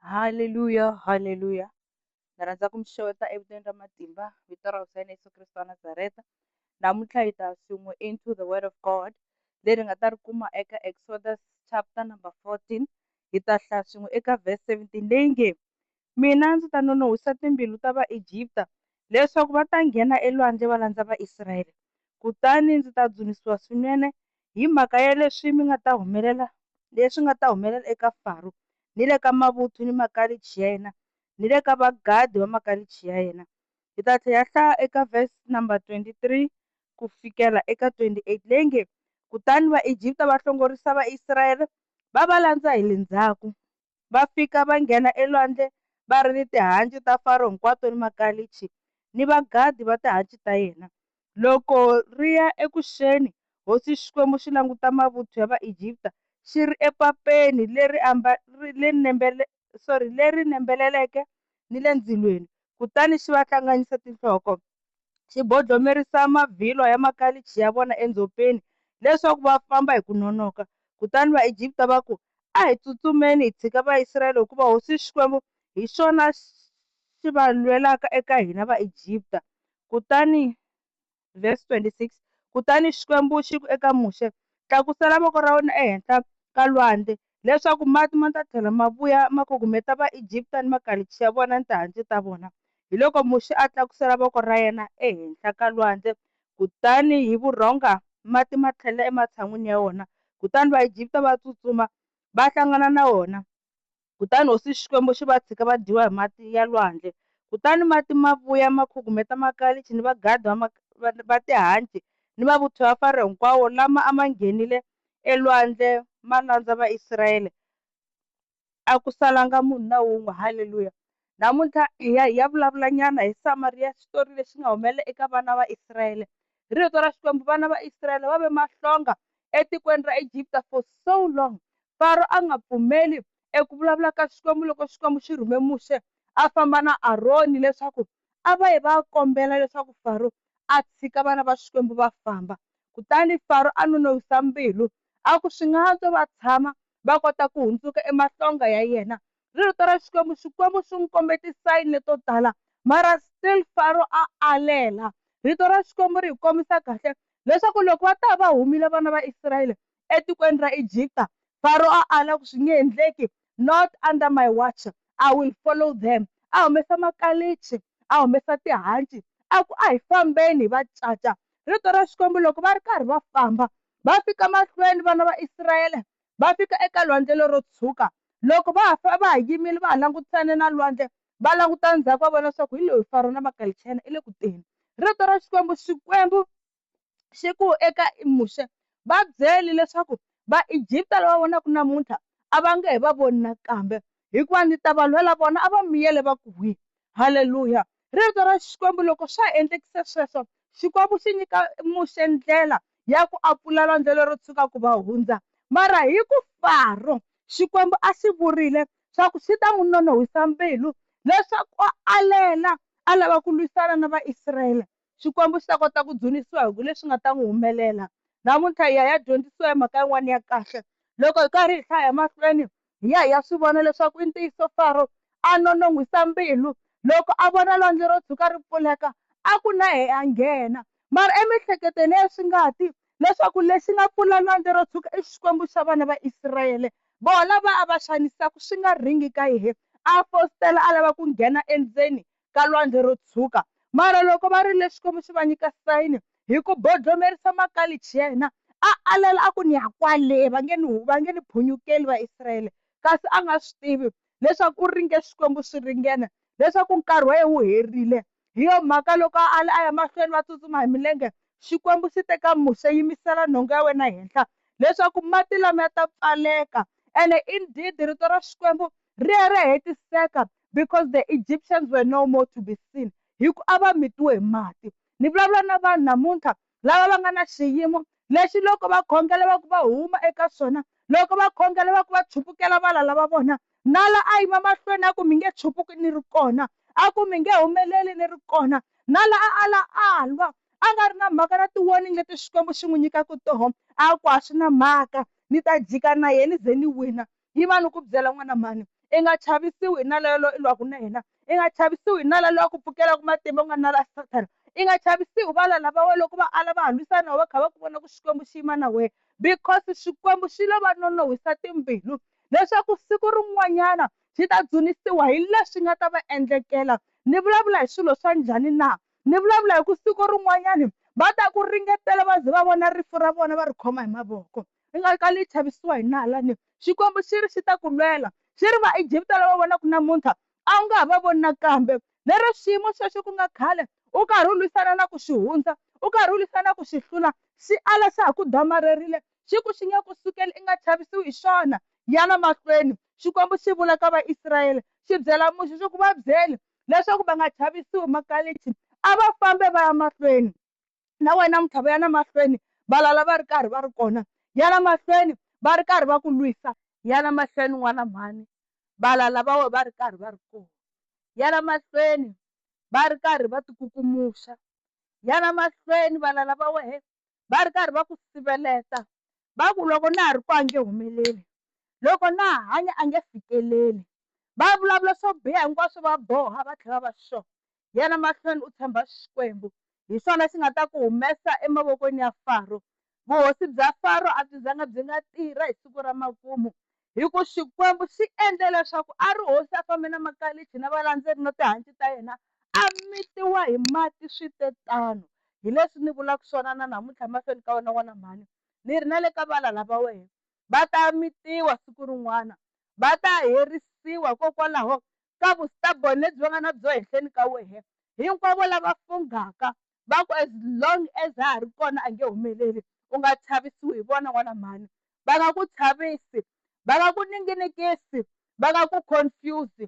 Haleluya haleluya ni rhandza ku mi xeweta evitaneni ra matimba vito ra hosi ya yena Yeso Kreste wa Nazareta namuntlha hi ta swin'we into the word of God leri nga ta ri kuma eka Exodus chapter number 14 hi ta hlaya swin'we eka verse 17 leyi nge Mina ndzi ta nonon'hwisa timbilu ta Vaegipta leswaku va ta nghena elwandle va landza Vaisraele, kutani ndzi ta dzunisiwa swinene hi mhaka ya leswi mi nga ta humelela leswi nga ta humelela eka Faro ni le ka mavuthu ni makalichi ya yena ni le ka vagadi va makalichi ya yena. Hi ta tlhela hi hlaya eka verse number 23 ku fikela eka 28 leyi nge, Kutani Vaegipta va hlongorisa Vaisraele va va landza hi le ndzhaku. va fika va nghena elwandle va ri ni tihanci ta Faro hinkwato ni makalichi ni vagadi va tihanci ta yena. Loko ri ya eku xeni, hosi Xikwembu xi languta mavuthu ya Vaegipta xi ri epapeni leri nembeleleke ni le ndzilweni, kutani xi va hlanganyisa tinhloko, xi bodlomerisa mavhilwa ya makalichi ya vona endzhopeni, leswaku va famba hi ku nonoka. Kutani Vaegipta va ku, A hi tsutsumeni hi tshika Vaisraele, hikuva hosi Xikwembu hi xona xi va lwelaka eka hina Vaegipta. Kutani. vhesi 26 Kutani Xikwembu xi ku eka Muxe, Tlakusela voko ra wena ehenhla ka lwandle, leswaku mati ma ta tlhela ma vuya ma kugumeta Vaegipta ni makalichi ya vona ni tihanci ta vona. Hiloko Muxe a tlakusela voko ra yena ehenhla ka lwandle, kutani hi vurhonga mati ma tlhelela ematshan'wini ya wona, kutani Vaegipta va tsutsuma va hlangana na wona. Kutani hosi Xikwembu xi va tshika va dyiwa hi mati ya lwandle. Kutani mati ma vuya ma khugumeta makalichi ni vagadhi va ma, va, va tihanci ni mavuthu ya Faro hinkwawo lama a ma nghenile elwandle ma landza Vaisraele, a ku salanga munhu na wun'we. Haleluya! Namuntlha hi ya hi ya vulavula nyana hi Samariya, xitori lexi nga humelela eka vana va Israyele. Hi Rito ra Xikwembu, vana va Israyele va ve mahlonga etikweni ra Egipta for so long. Faro a nga pfumeli eku vulavula ka Xikwembu loko Xikwembu xi rhume Muxe a famba na Aroni leswaku a va yi va ya kombela leswaku Faro a tshika vana va Xikwembu va famba. Kutani Faro a nonowisa mbilu, a ku, Swi nga antswa va tshama va kota ku hundzuka emahlonga ya yena ri rito ra Xikwembu, Xikwembu xi n'wi kombe tisayine to tala mara still Faro a alela. Rito ra Xikwembu ri hi kombisa kahle leswaku loko va ta va humile vana va Israyele etikweni ra Egipta, Faro a ala ku swi nge endleki, not under my watch I will follow them. A humesa makalichi, a humesa tihanci a ku a hi fambeni hi va caca. Rito ra Xikwembu loko va ri karhi va famba va fika mahlweni vana va Israyele va fika eka lwandle lero tshwuka. Loko va ha va ha yimile va ha langutisane na lwandle, va languta ndzhaku va vona swaku hi loyi Faro na Makali Chayina i le ku teni. Rito ra Xikwembu, Xikwembu xi ku eka Muxe, Va byeli leswaku Vaegipta lava vonaku namuntlha a va nge he va voni nakambe. hikuva ni ta va lwela vona, a va miyele va ku, Hwi! Haleluya! Rito ra Xikwembu loko swa ha endlekise sweswo, Xikwembu xi nyika Muxe ndlela ya ku a pfula lwandle lero tshwuka ku va hundza. Mara hi ku Faro, Xikwembu a xi vurile swa ku xi ta n'wi nonohwisa mbilu leswaku a alela a lava ku lwisana na Vaisraele, Xikwembu xi ta kota ku dzunisiwa hi ku leswi nga ta n'wi humelela. Namuntlha hi ya hi ya dyondzisiwa hi mhaka yin'wana ya kahle. Loko hi karhi hi hlaya emahlweni, hi ya hi ya swi vona leswaku i ntiyiso Faro a nonon'hwisa mbilu loko a vona lwandle ro tshuka ri pfuleka, a ku na yehe a nghena. Mara emiehleketweni ya yena swi nga ti leswaku lexi nga pfula lwandle ro tshuka i Xikwembu xa vana va Israele, vona lava a va xanisaka swi nga ringi ka yehe, a fositela a lava ku nghena endzeni ka lwandle ro tshwuka. Mara loko va rile Xikwembu xi va nyika sayini hi ku bodlomerisa makalichi ya hina, a alela a ku, Ni ya kwale, va nge ni, va nge ni phunyukeli Vaisrayele. Kasi a nga swi tivi leswaku u ringe Xikwembu swi ringene, leswaku nkarhi wa yena wu herile. Hi yo mhaka loko a ale a ya mahlweni va tsutsuma hi milenge, Xikwembu xi te ka Muxe, Yimisela nhonga ya wena henhla, leswaku mati lamaya ta pfaleka. Ene indeed rito ra Xikwembu ri ye ra hetiseka, because the Egyptians were no more to be seen hi ku a va mitiwe hi mati. Ni vulavula na vanhu namuntlha lava va nga na xiyimo lexi loko va khongela va ku va huma eka swona, loko va khongela va ku va chupukela valala va vona. Nala a yima mahlweni a ku, Mi nge chupuki ni ri kona. A ku, Mi nge humeleli ni ri kona. Nala a ala a lwa, a nga ri na mhaka na ti-warning leti Xikwembu xi n'wi nyikaka tona. A ku, A swi na mhaka, ni ta jika na yena ni ze ni wina. Yima ni ku byela n'wana mhani, I nga chavisiwi hi nala yoloye i lwaka na yena, i nga chavisiwi hi nala loyi a ku pfukelaka matimba ku nga nala ya Sathana, i nga chavisiwi hi valala va wena loko va ala va ha lwisana na wena va kha va ku vona ku Xikwembu xi yima na wena, because Xikwembu xi lo va nonon'hwisa timbilu leswaku siku rin'wanyana xi ta dzunisiwa hi leswi nga ta va endlekela. Ni vulavula hi swilo swa njhani na? Ni vulavula hi ku siku rin'wanyana va ta ku ringetela va ze va vona rifu ra vona va ri khoma hi mavoko. Hi nga kali hi chavisiwa hi nala ni. Xikwembu xi ri xi ta ku lwela, xi ri, Vaegipta lava u va vonaka namuntlha, a wu nga ha va voni nakambe. Lero xiyimo xexo ku nga khale u karhi u lwisana na ku xi hundza, u karhi u lwisana na ku xi hlula, xi ala xa ha ku damarerile, xi ku xi nge ku sukeli i nga chavisiwi hi xona. Yana mahlweni, Xikwembu xi vula ka Vaisrayele, xi byela Muxe xo ku, Va byeli leswaku va nga chavisiwi, makalichi a va fambe va ya mahlweni. na wena muthava yana mahlweni valala va ri karhi va ri kona yana mahlweni va ri karhi va ku lwisa yana mahlweni n'wana mhani valala va we va ri karhi va ri kona yana mahlweni va ri karhi va tikukumuxa yana mahlweni valala va wehe va ri karhi va ku siveleta va ku loko na ha ri ku a nge humeleli loko na ha hanya a nge fikeleli va vulavula swo biha hinkwaswo va boha va tlhela va sure Yena mahlweni u tshemba Xikwembu, hi swona xi nga ta ku humesa emavokweni ya Faro. Vuhosi bya Faro a byi zanga byi nga tirha hi siku ra makumu, hi ku Xikwembu xi endle leswaku Arihosi a fambe na makalichi na valandzeri na tihanci ta yena, a mitiwa hi mati swi te tano. Hi leswi ni vulaka swona na namuntlha emahlweni ka wena n'wana mhani, ni ri na le ka valala va wena, va ta mitiwa siku rin'wana, va ta herisiwa, hikokwalaho ka vu stubborn lebyi va nga na byo henhleni ka wehe, hinkwavo lava funghaka va ku as long as ha ha ri kona a nge humeleli, u nga chavisiwi hi vona n'wana mhani, va nga ku chavisi, va nga ku ninginikisi, va nga ku confuse,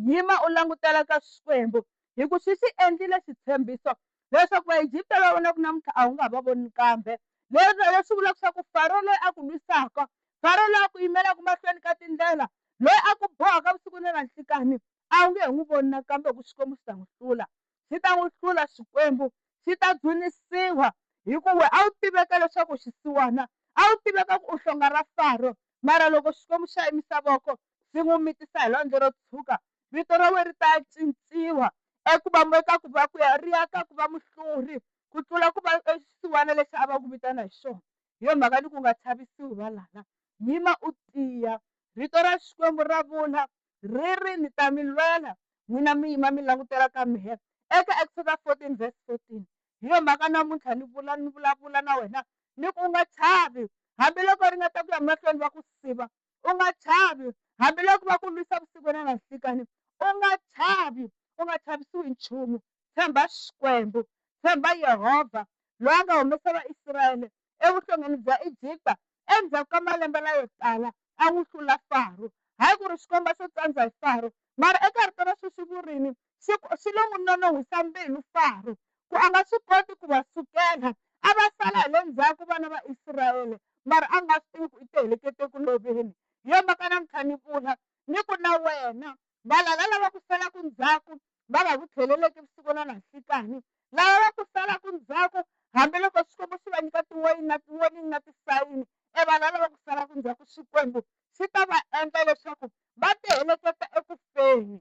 yima u langutela ka Xikwembu hi ku xi xi endlile xitshembiso leswaku Vaegipta lava vonaka namuntlha a wu nga va voni kambe. Leswi leswi vulaka leswaku Faro loyi a ku lwisaka, Faro loyi a ku yimelaka mahlweni ka tindlela, loyi a ku bohaka vusiku ni na nhlikanhi, a wu nge he n'wi voni nakambe hikuva Xikwembu xi ta n'wi hlula. Xi ta n'wi hlula Xikwembu, xi ta dzunisiwa hikuva wena a wu tiveka leswaku u xisiwana, a wu tiveka ku u hlonga ra Faro, mara loko Xikwembu xa yimisa voko swi n'wi mitisa hi lwandle ro tshwuka, vito ra wena ri ta cinciwa eku va eka ku va kwihi, ri ya ka ku va muhluri ku tlula ku va xisiwana lexi a va ku vitana hi xona. Hi yona mhaka ni ku u nga chavisiwi valala, yima u tiya. Rito ra Xikwembu ra vula ri ri, Ni ta mi lwela, n'wina mi yima mi langutela ka mehe, eka Eksoda 14 verse 14. Hi yona mhaka namuntlha ni vula ni vulavula na wena ni ku, u nga chavi hambiloko ri nga ta ku ya mahlweni va ku siva, u nga chavi hambiloko va ku lwisa vusiku na nanhlikani u nga chavi u nga chavisiwi nchumu tshemba xikwembu tshemba yehovha loyi a nga humesa vaisrayele evuhlongeni bya egipta endzhaku ka malembe layo tala a n'wi hlula faro hayi ku ri xikomba xo tsandza hi faro mara eka rito ra sweswi vurini swi swi lo n'wi nonon'hwisa mbilu Faro, ku a nga swi koti ku va sukela. A va sala hi le ndzhaku vana va Israele, mara a nga swi tivi ku i tihelekete eku loveni. Hi yo mhaka namuntlha ni vula, ni ku na wena, valala lava ku salaku ndzhaku, va nga ku tlheleleki vusiku na nanhlikani. Lava va ku salaku ndzhaku, hambiloko Xikwembu xi va nyika tiwoyini na tiwoningi na tisayini, e valala lava ku salaku ndzhaku, Xikwembu xi ta va endla leswaku va tiheleketa eku feni.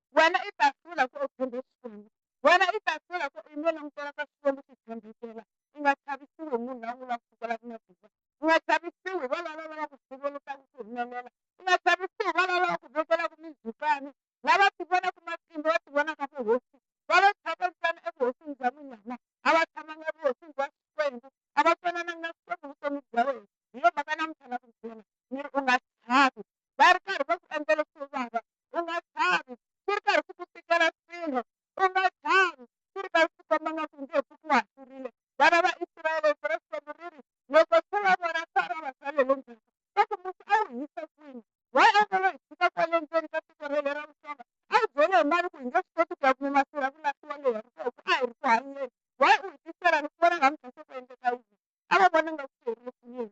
Wena i ta hlula ku u tshembe Xikwembu. Wena i ta hlula ku i nwe langutela ka Xikwembu xi tshembekela. I nga chavisiwi hi munhu la u vulaka ku kwala matimba. I nga chavisiwi hi valava lava ku sivelekaka ku humelela. I nga chavisiwi hi valava va ku vekelaka mindzhukano. Lava tivonaka matimba va tivonaka vuhosi va lo thyaka ntsena evuhosini bya munyama. A va tshamanga evuhosini bya Xikwembu. A va twanananga na Xikwembu hi vutomi bya wena. Hi yo mhaka namuntlha na ku byela ni ri u nga chavi. Va ri karhi va ku endla leswo vava u nga chavi swi ri karhi swi ku tikela swilo u nga chavi swi ri karhi swi komba nga ku nge ku ku hahlurile vana va israele vira xikwembu ri ri loko se va vona sara va sale le ndzhaku va ku musi a wu hise kwini wa angelo hi tshika kwale ndzeni ka tiko rele ra vuxonga a wu byele hi mali ku hi nge swi koti ku ya kuma masirha ku lahliwa leyi ya vuxonga ku a hi ri ku hanyeni wa u hi tisela ni ku vona nga mudyaso ku endleka yini a va vona nga ku herile swinene